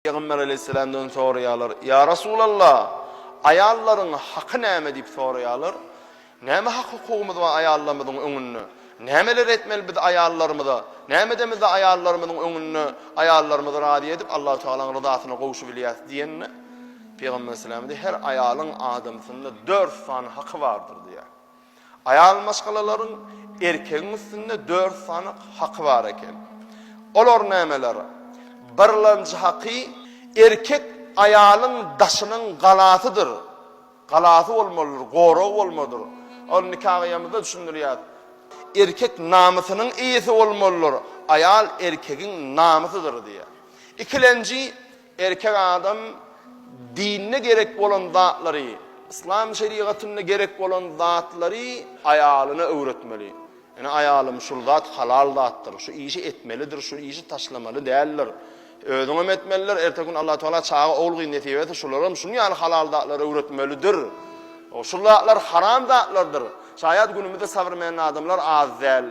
Pygamber aleýhissalamdan soraýarlar, Ýa Resulalla, aýallaryň haky näme diýip soraýarlar. Näme hak-hukugymyz bar aýallarymyzyň öňünde? Nämeleri etmeli biz aýallarymyza? Nämede biz-de aýallarymyzyň öňünde aýallarymyzy razy edip, Allahu Tagalaň ryzasyna gowşubilýäris diýende, Pygamber sallallahu aleýhi we sellem, Her aýalyň adamsynda dört sany haky bardyr diýýär. Aýal maşgalalaryň erkegiň üstünde dört sany haky bar eken. Olar nämeler? Birlenji haky, erkek aýalyň daşynyň galasydyr. Galasy bolmalydyr, goragy bolmalydyr. Ol nika gyýamyzda düşündirýär. Erkek namysynyň eýesi bolmalydyr, aýal erkegiň namysydyr diýýär. Ikilenji, Erkek adam dinine gerek bolan zatlary, yslam şerigatynda gerek bolan zatlary aýalyna öwretmeli. Ene aýalym şul zat halal zatdyr, şu işi etmelidir, şu işi taşlamaly däldir. Özüňem etmelidir, erteki gün Allahu Teala çaga ogul gyz nesip etse şularam şunuň ýaly halal zatlary öwretmelidir. Şul zatlar haram zatlardyr. Şaýat günümizde sabrmen adamlar az däl.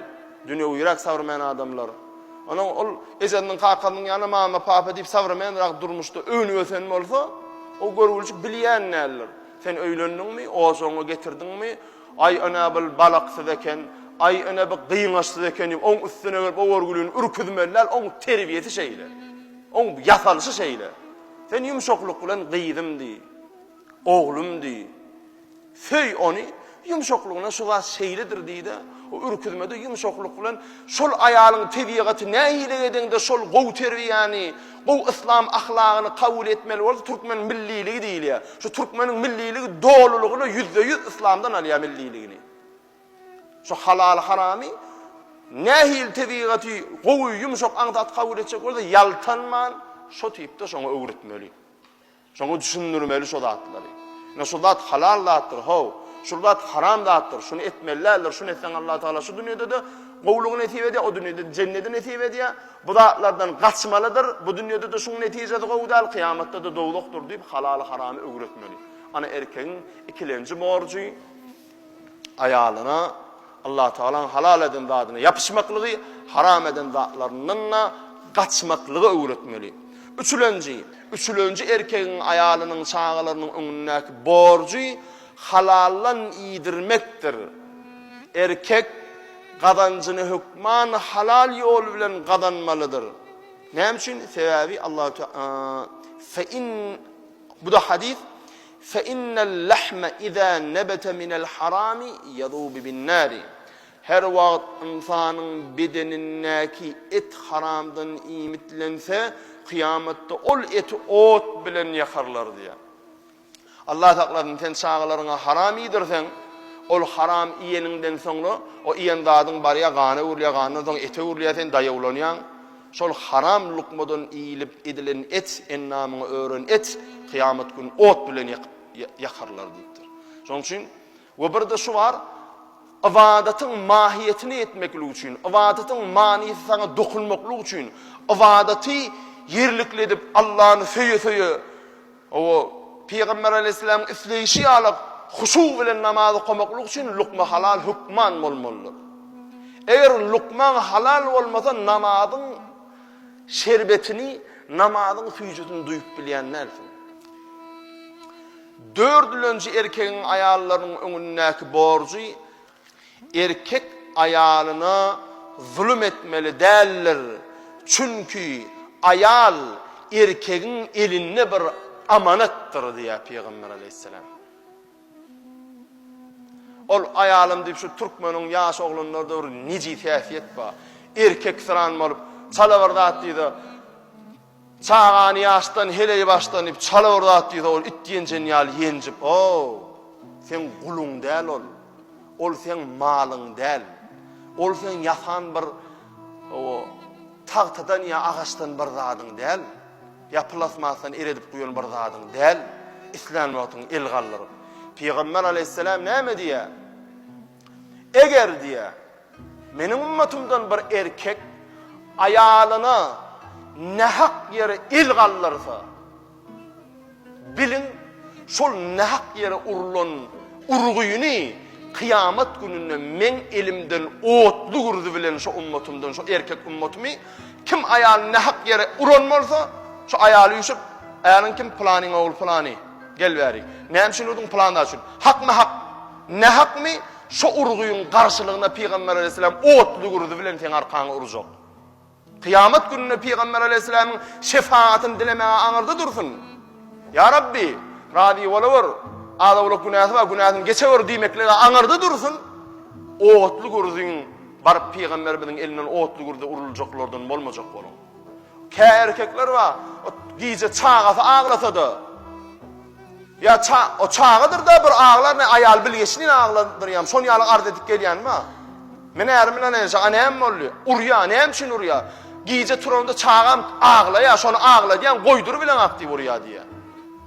Dünewüräk sawrmen adamlar. Onuň ol ejesiniň kakasnyň ýaly mama papa diýip sawrmenrak durmuşda öwnüp ösen bolsa, o görgüljik bilýän däldir. Sen öýlendiňmi, ojagyňy getirdiňmi, aý ene bil balaksyz eken, aý ene bi gyňaçsyz eken diýip oň üstüne gelip o görgülini ürküzmeli däl, oň terbiýesi şeýle. Oň ýasalyşy şeýle. Sen ýumşaklyk bilen gyzym diý. Oglum diý. Söý ony, ýumşaklygyna şu zat şeýledir diý-de, o ürküzmede ýumşaklyk bilen şol aýalyň tebigaty nähili edeňde şol gowy terbiýäni, gowy yslam ahlagyny kabul etmeli bolsa türkmen milliligi diýilýär. Şu türkmeniň milliligi dolulygyna ýüzde-ýüz yslamdan alýar milliligini. Şu halaly haramy nähili tebigaty gowy ýumşak aňsat kabul etjek bolsa ýaltanman şo tipde şoňa öwretmeli. Şoňa düşündirmeli şo zatlary. Ine şu zat halal zatdyr, how, şul zat haram zatdyr, şuny etmeli däldir, şuny etseň Allah Tagala şu dünýäde-de gowulygy nesip edýär, o dünýäde-de jenneti nesip edýär, bu zatlardan gaçmalydyr, bu dünýäde-de şuň netijesi gowy däl, kyýamatda-da dowzahdyr diýip halaly haramy öwretmeli. Ana erkegiň ikilenji borjy. Aýalyna Allatagalaň halal eden zadyna ýapyşmaklygy, haram eden zatlaryndan-da gaçmaklygy öwretmeli. Üçülenji, Üçülenji erkegiň aýalynyň, çagalarynyň öňündäki borjy halaldan iýdirmekdir. Erkek gazanjyny hökman halal ýol bilen gazanmalydyr. Näme üçin? Sebäbi Allatagala, Fe in Bu-da hadys, Fe innel lehme iza nebete minel harami yazubu bin nari, Her wagt ynsanyň bedenindäki et haramdan iýmitlense, kyýamatda ol eti ot bilen ýakarlar diýýär. Allah saklasyn, sen çagalaryňa haram iýdirseň, ol haram iýeniňden soňra, o iýen zadyň barýar, gana öwrülýär, gandan soň ete öwrülýär, sen daýawlanýaň. Şol haram lukmadan iýlip edilen et endamyňa ören et kyýamat gün ot bilen ýakyp ýakarlar diýipdir. Şonuň üçin we birde şu bar, ybadatyň mahiýetini etmeklik üçin, ybadatyň manysy saňa dokunmaklyk üçin, ybadaty ýerlikli edip Allany söýe-söýe O, Pygamber aleýhissalamyň isleýşi ýaly huşu bilen namaz okamaklyk üçin lukma halal hökman bolmalydyr. Eger lukmaň halal bolmasa namazyň şerbetini, namazyň süýjüsini duýup bilýän dälsiň. Dördülenji erkegiň aýallarynyň öňündäki borjy Erkek aýalyna zulum etmeli däldir, çünki aýal erkegiň elinde bir amanatdyr diýýär Pygamber aleýhissalam. Ol aýalym diýip şu türkmeniň ýaş oglanlarda bir nejis häsiýet bar. Erkeksyran bolup, çala bir zat diýdi. Çagany ýaşdan heleý başlanyp çala bir zat diýse ol it ýenjen ýaly ýenjip oo seň guluň däl ol ol seň malyň däl ol seň ýasan bir oo tagtadan ýa agaçdan bir zadyň däl ýa plasmasdan eredip guýan bir zadyň däl islän wagtyň el galdyryp pygamber aleýhissalam näme diýýär Eger, diýýär, meniň ümmetymdan bir erkek aýalyna nähak ýere el galdyrsa, biliň, şol nähak ýere urlan urgyny kyýamat gününde meň elimden otly gürzi bilen şo ümmetymden, şo erkek ümmetymy, kim aýalyny nähak ýere uran bolsa, şo aýaly üýşüp, Äliň kim? Pylanyň ogly pylany. Gel bäri. Näme üçin urdyň? Pylan zat üçin. Hakmy-hak? Nähakmy, şo urgyň garşylygyna Pygamber aleýhissalam otly gürzi bilen seň arkaňy urjak. Kyýamat gününe Pygamber aleýhissalamyň şefagatyn dilemäge aňyrda dursun. Ýa Rabbi, razy bolawer, az-owlak günäsi bar, günäsini geçewer diýmeklige aňyrda dursun. Otly gürziň baryp Pygamberimiziň elinden otly gürze uruljaklardan bolmajak boluň. Kä erkekler bar, gije çagasy aglasada, ýa ça, o çagadyr-da bir aglar, ne aýaly bilgeşlin agladyrýam, şon ýaly arz edip gelýän bar. Men ärim bilen enişe, a näme boldy? Urýar, näme üçin urýar? Gije turanda çagam aglaýar, şony agladýan, goýdur bilen ak diýip urýar diýýär.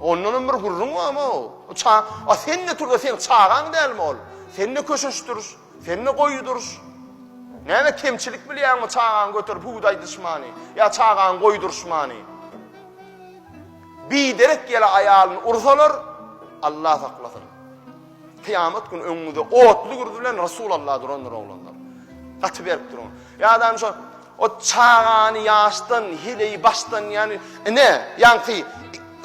Ondanam bir gürrüň barmy o? O ça, a sen-de turda, seň çagaň dälmi ol? Sen-de köşeşdir. Sende goýy duruş. Näme kemçilik bilýäňmi çagaňy göterip hüwdäý dyşmany ýa çagaňy goýdurşmany. Biderek ýele aýalyny ursalar Allah saklasyn. Kyýamat güni öňüňizde otly gürzi bilen Resul Allah durandyr oglanlar. Gaty berip duruň. Ýadam şu o çagany ýaşdan, hileyi başdan ýany ine ýanki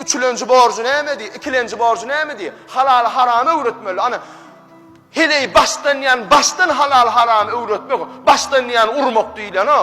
üçülenji borjy nämedi, ikilenji borjy nämedi? Halaly haramy öwretmeli. Ana Heleý başdan diýýän başdan halal haramy öwretmek başdan diýýän urmak diýilýän o.